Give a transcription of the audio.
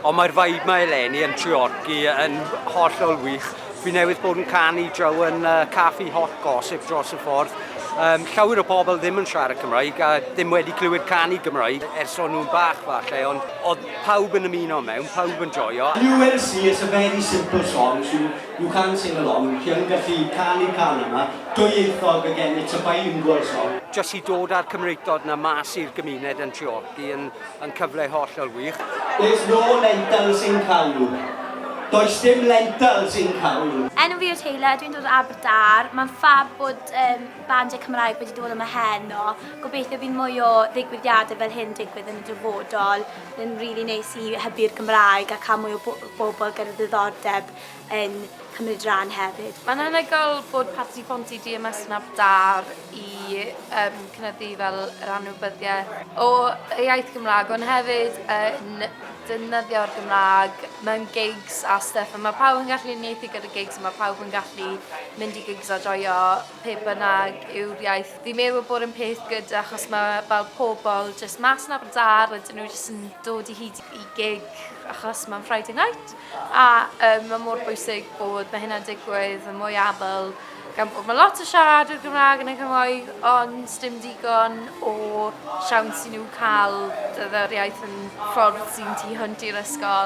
Ond mae'r vibe mae eleni yn Treorci yn hollol wych. Fi newydd bod yn canu draw yn uh, caffi hot gossip dros y ffordd. Um, llawer o pobl ddim yn siarad Cymraeg a ddim wedi clywed canu Gymraeg ers o'n nhw'n bach falle, ond oedd pawb yn ymuno mewn, pawb yn joio. And you will see it's a very simple song, so you can sing along, chi yn gallu canu can yma, dwyieithog again, it's a bilingual song. Jyst i dod â'r Cymreictod yna mas i'r gymuned yn Treorci. Chi yn yn cyfle hollol wych. There's no lentils in cawl. Does dim lentils in cawl. Enw fi yw Taylor, dwi'n dod o Aberdar. Mae'n ffab bod um, bandiau Cymraeg wedi dod yma heno. Gobeithio bydd mwy o ddigwyddiadau fel hyn digwydd yn y dyfodol. Mae'n rili really neis i hybu'r Gymraeg a cael mwy o bobl gyda ddiddordeb yn cymryd rhan hefyd. Mae'n anhygoel bod Parti Ponty Dia Masnaf Dâr i um, cynyddu fel yr anwybyddiaeth o y iaith Gymraeg, ond hefyd yn defnyddio'r Gymraeg mewn gigs a stuff. A mae pawb yn gallu unieithu gyda gigs, a mae pawb yn gallu mynd i gigs a joio pe bynnag yw'r iaith. Fi'n meddwl bod yn peth good achos mae fel pobl jyst mas yn Aberdâr a dyn nhw jyst yn dod i hyd i gig achos mae'n Friday night. A yym ma' mor bwysig bod ma' hynna'n digwydd yn mwy aml gan bod ma' lot o siaradwyr Gymrâg yn y cymoedd ond dim digon o siawns i nhw ca'l d- yr iaith yn ffordd sy'n tu hwnt i'r ysgol.